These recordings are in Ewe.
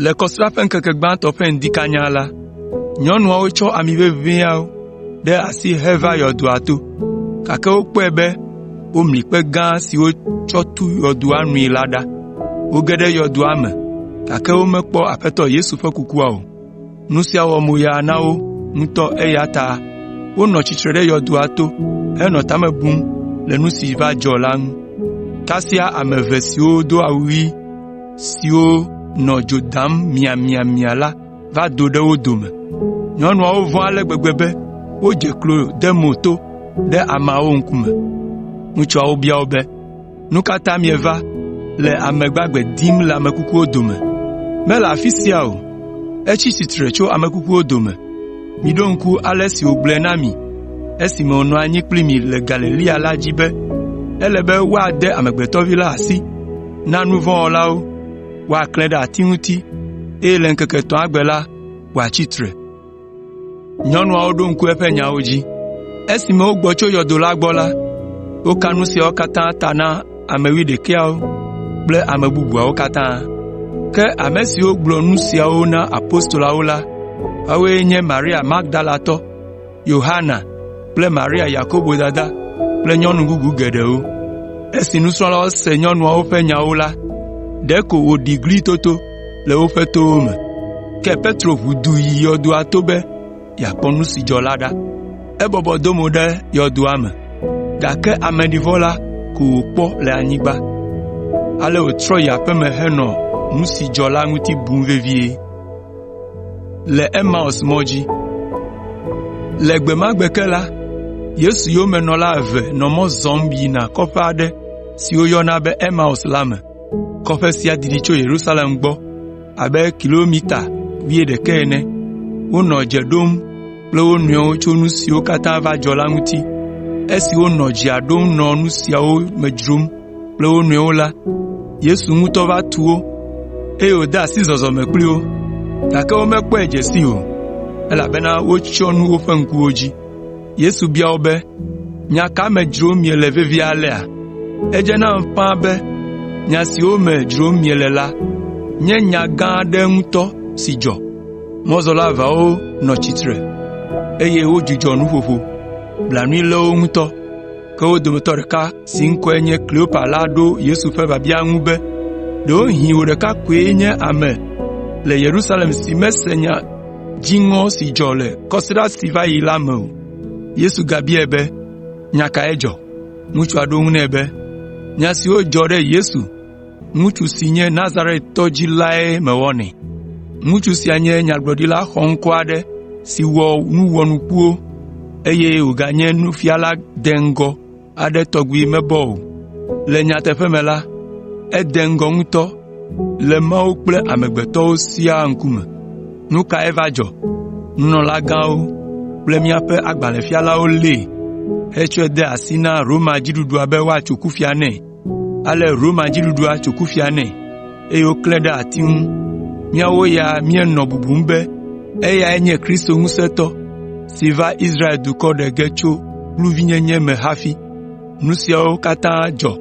Le kɔsrã ƒe ŋkeke gbãtɔ ƒe ŋdi kanya la, nyɔnuawo tsɔ ami ʋeʋĩ ɖe asi heva yɔdoa to, gake wokpɔe be womli kpe gã si wotsɔ tu yɔdoa nui la ɖa. Woge ɖe yɔdoa me, gake womekpɔ Aƒetɔ Yesu ƒe kukua o. Nu sia wɔ moya na wo ŋutɔ eya ta wonɔ tsitre ɖe yɔdoa to henɔ ta me bum le nu si va dzɔ la ŋu. Kasia ame eve siwo do awu ɣi siwo nɔ dzo dam miamiamia la va do ɖe wo dome. Nyɔnuawo vɔ̃ ale gbegbe be wodze klo de mo to ɖe ameawo ŋkume. Ŋutsuawo bia wo be, “Nu ka ta mieva le ame gbagbe dim le ame kukuwo dome? Mele afi sia o, etsi tsitre tso ame kukuwo dome. Miɖo ŋku ale si wògblɔe na mi esime wònɔ anyi kpli mi le Galilea la dzi be, ‘Ele be woade Amegbetɔ Vi la asi na nu vɔ̃ wɔlawo, woaklãe ɖe ati ŋuti, eye le ŋkeke etɔ̃a gbe la, wòatsi tsitre.’ ” Nyɔnuawo ɖo ŋku eƒe nyawo dzi. Esime wogbɔ tso yɔdo la gbɔ la, woka nu siawo katã ta na ame wuiɖekɛawo kple ame bubuawo katã. Ke ame siwo gblɔ nu siawo na apostoloawo la, woawoe nye Maria Magdalatɔ, Yohana kple Maria Yakobo dada kple nyɔnu bubu geɖewo. Esi nusrɔ̃lawo se nyɔnuawo ƒe nyawo la, ɖeko wòɖi gli toto. le woƒe towo me. Ke Petro ʋu du yi yɔdoa to be yeakpɔ nu si dzɔ la ɖa. Ebɔbɔ do mo ɖe yɔdoa me, gake ameɖivɔ la ko wòkpɔ le anyigba. Ale wòtrɔ yi aƒe me henɔ nu si dzɔ la ŋuti bum vevie. Le gbe ma gbe ke la, Yesu yomenɔla eve nɔ mɔ zɔm yina kɔƒe aɖe si woyɔna be Emaus la me. Kɔƒe sia didi tso Yerusalem gbɔ abe kilometa wuiɖekɛ ene. Wonɔ dze ɖom kple wo nɔewo tso nu siwo katã va dzɔ la ŋuti. Esi wonɔ dzea ɖom nɔ nu siawo me dzrom kple wo nɔewo la, Yesu ŋutɔ va tu wo, eye wòde asi zɔzɔme kpli wo. Gake womekpɔe dze sii o, elabena wotsyɔ nu woƒe ŋkuwo dzi. Yesu bia wo be, “Nya ka me dzrom miele vevie alea? Edze nam ƒãa be nya siwo me dzrom miele la nye nya gã aɖe ŋutɔ si dzɔ.” Mɔzɔla eveawo nɔ tsitre, eye wodzudzɔ nuƒoƒo. Blanui lé wo ŋutɔ. Ke wo dometɔ ɖeka si ŋkɔe nye Kleopa la ɖo Yesu ƒe biabia ŋu be, “Ɖewohĩ wò ɖeka koe nye ame le Yerusalem si mese nya dziŋɔ si dzɔ le kɔsiɖa si va yi la me o. Yesu gabiae be, “Nya kae dzɔ?” Ŋutsua ɖo eŋu nɛ be, “Nya siwo dzɔ ɖe Yesu, ŋutsu si nye Nazaretɔ dzi lae mewɔnɛ. Ŋutsu sia nye nyagblɔɖila xɔŋkɔ aɖe si wɔ nu wɔnukuwo, eye wòganye nufiala deŋgɔ. aɖe tɔgbi mebɔ o. Le nyateƒe me la, ede ŋgɔ ŋutɔ le Mawu kple amegbetɔwo siaa ŋkume. Nu kae va dzɔ? Nunɔlagãwo kple míaƒe agbalẽfialawo lée hetsɔe de asi na Roma dziɖuɖua be woatso kufia nɛ. Ale Roma dziɖuɖua tso kufia nɛ. eye woklãe ɖe ati ŋu. Míawo ya míenɔ bubum be eyae nye Kristo ŋusẽtɔ si va Israel dukɔ ɖe ge tso kluvinyenye me hafi. Nu siawo katã dzɔ.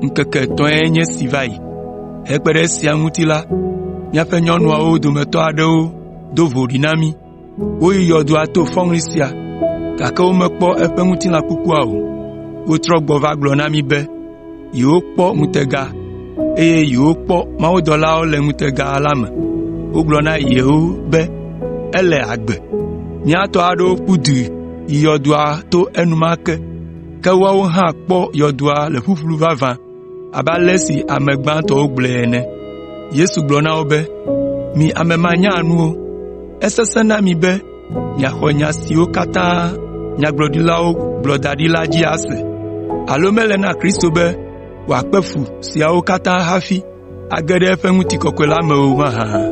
Ŋkeke etɔ̃e nye esi va yi. Hekpe ɖe esia ŋuti la, míaƒe nyɔnuawo dometɔ aɖewo do voɖi na mí. Woyi yɔdoa to fɔŋli sia, gake womekpɔ eƒe ŋutilã kukua o. Wotrɔ gbɔ va gblɔ na mí be yewokpɔ ŋutega, eye yewokpɔ mawudɔlawo le ŋutega la me. Wogblɔ na yewo be ele agbe. Mía tɔ aɖewo ƒu du yi yɔdoa to enumake, ke woawo hã kpɔ yɔdoa le ƒuƒlu vavã. abe ale si ame gbãtɔwo gblɔe ene. Yesu gblɔ na wo be, “Mi ame manyanuwo! Esesẽ na mi be miaxɔ nya siwo katã nyagblɔɖilawo gblɔ da ɖi la dzi ase? Alo mele na Kristo be wòakpe fu siawo katã hafi age ɖe eƒe ŋutikɔkɔe la me o mahã?”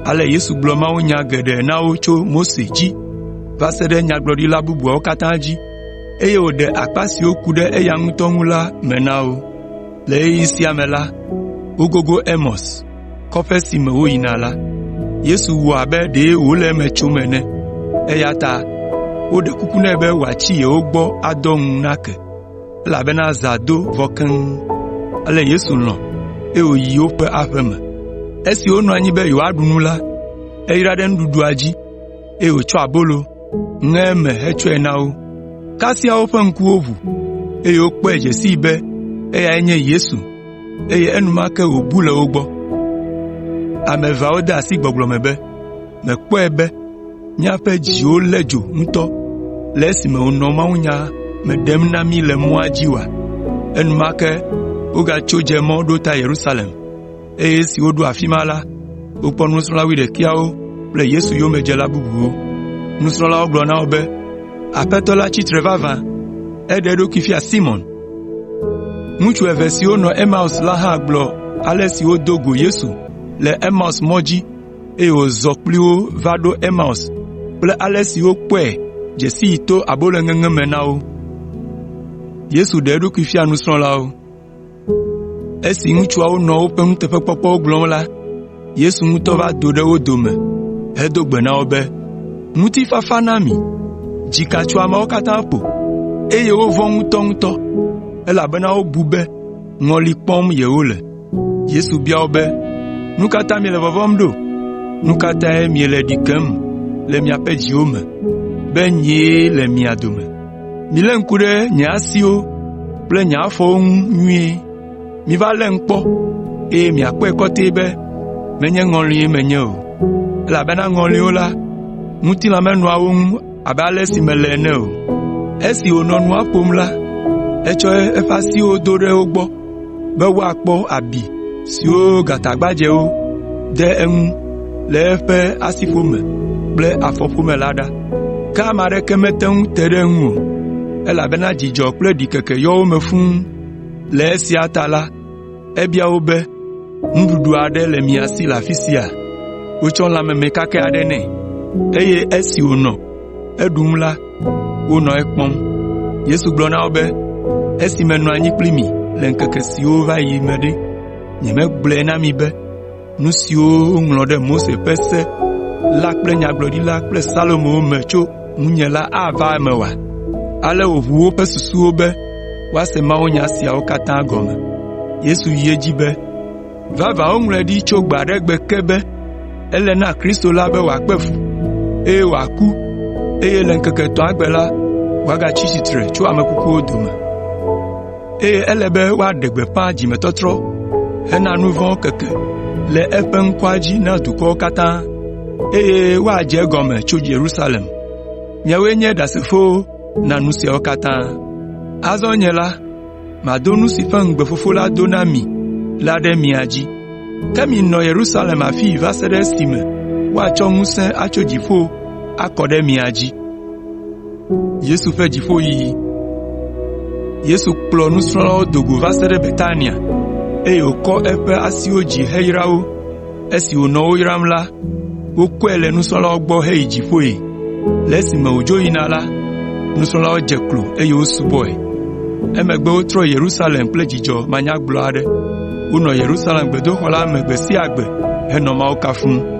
Ale Yesu gblɔ mawunya geɖe na wo tso Mose dzi va se ɖe nyagblɔɖila bubuawo katã dzi. eye wòɖe akpa siwo ku ɖe eya ŋutɔ ŋu la me na wo. Le ɣeyiɣi sia me la, wogogo Emaus, kɔƒe si me woyina la. Yesu wɔ abe ɖe wòle eme tsom ene, eya ta woɖe kuku nɛ be wòatsi yewo gbɔ adɔ ŋu nake, elabena zã do vɔ keŋ. Ale Yesu lɔ̃, eye wòyi woƒe aƒe me. Esi wonɔ anyi be yewoaɖu nu la, eyra ɖe nuɖuɖua dzi. eye wòtsɔ abolo, ŋe eme hetsɔe na wo. Kasia woƒe ŋkuwo ʋu, eye wokpɔe dze sii be eyae nye Yesu, eye enumake wòbu le wo gbɔ. “Mèkpɔe be míaƒe dziwo lé dzo ŋutɔ le esime wònɔ mawunya me ɖem na mí le mɔa dzi oa?” Enumake wogatso dze mɔ ɖo ta Yerusalem. eye esi woɖo afi ma la, wokpɔ nusrɔ̃la wuiɖekɛawo kple Yesu yomedzela bubuwo. Nusrɔ̃lawo gblɔ na wo be, “Aƒetɔ la tsi tre vavã, eɖe eɖokui fia Simɔn.” Ŋutsu eve siwo nɔ Emaus la hã gblɔ ale si wodo go Yesu le Emaus mɔ dzi, eye wòzɔ kpli wo va ɖo Emaus kple ale si wokpɔe dze sii to abolo ŋeŋe me na wo. Esi ŋutsuawo nɔ woƒe nuteƒekpɔkpɔwo gblɔm la, Yesu ŋutɔ va do ɖe wo dome hedo gbe na wo be, “Ŋutifafa na mi! Dzika tso ameawo katã ƒo, eye wovɔ̃ ŋutɔŋutɔ, elabena wobu be ŋɔli kpɔm yewole.” Yesu bia wo be, “Nu ka ta miele vɔvɔ̃m ɖo? Nu ka tae miele ɖi kem le miaƒe dziwo me be nyee le mia dome? “Milé ŋku ɖe nye asiwo kple nye afɔwo ŋu nyuie. Miva lém kpɔ, eye miakpɔe kɔtɛ be menye ŋɔlie menye o. Elabena ŋɔliwo la, ŋutilã menɔa wo ŋu abe ale si mele ene o.” Esi wònɔ nua ƒom la, etsɔ eƒe asiwo do ɖe wo gbɔ. be woakpɔ abi siwo gatagbadzɛwo de eŋu le eƒe asiƒome kple afɔƒome la ɖa. Ke ame aɖeke mete ŋu te ɖe eŋu o, elabena dzidzɔ kple ɖikeke yɔ wo me fũu. Le esia ta la, ebia wo be, “Nuɖuɖu aɖe le mia si le afi sia?” Wotsɔ lã meme kakɛ aɖe nɛ, eye esi wònɔ Eɖu nu la, wonɔ ekpɔm. Yesu gblɔ na wo be, “Esi menɔ anyi kpli mi le ŋkeke siwo va yi me ɖe, nyemegblɔe na mi be nu siwo woŋlɔ ɖe Mose ƒe Se la kple Nyagblɔɖila kple Salomowo me tso ŋunye la ava eme oa?” Ale wòʋu woƒe susuwo be woase mawunya siawo katã gɔme. Yesu yi edzi be, Vavã woŋlɔe ɖi tso gbe aɖe gbe ke be, ‘Ele na Kristo la be wòakpe fu, eye wòaku, eye le ŋkeke etɔ̃a gbe la, wòagatsi tsitre tso ame kukuwo dome.’ Eye ele be woaɖe gbeƒã dzimetɔtrɔ hena nu vɔ̃ keke le eƒe ŋkɔa dzi na dukɔwo katã, eye woadze egɔme tso Yerusalem. Miawoe nye ɖasefowo na nu siawo katã. Azɔ nye la, Mado nu si ƒe ŋugbe Fofo la do na mi la ɖe mia dzi. Ke minɔ Yerusalem afii va se ɖe esime woatsɔ ŋusẽ atso dziƒo akɔ ɖe mia dzi.” Yesu kplɔ nusrɔ̃lawo do go va se ɖe Betania, eye wòkɔ eƒe asiwo dzi heyra wo. Esi wònɔ wo yram la, wokɔe le nusrɔ̃lawo gbɔ heyi dziƒoe. Le esime wòdzo yina la, nusrɔ̃lawo dze klo, eye wosubɔe. Emegbe wotrɔ yi Yerusalem kple dzidzɔ manyagblɔ aɖe. Wonɔ Yerusalem gbedoxɔ la me gbe sia gbe henɔ Mawu kafum.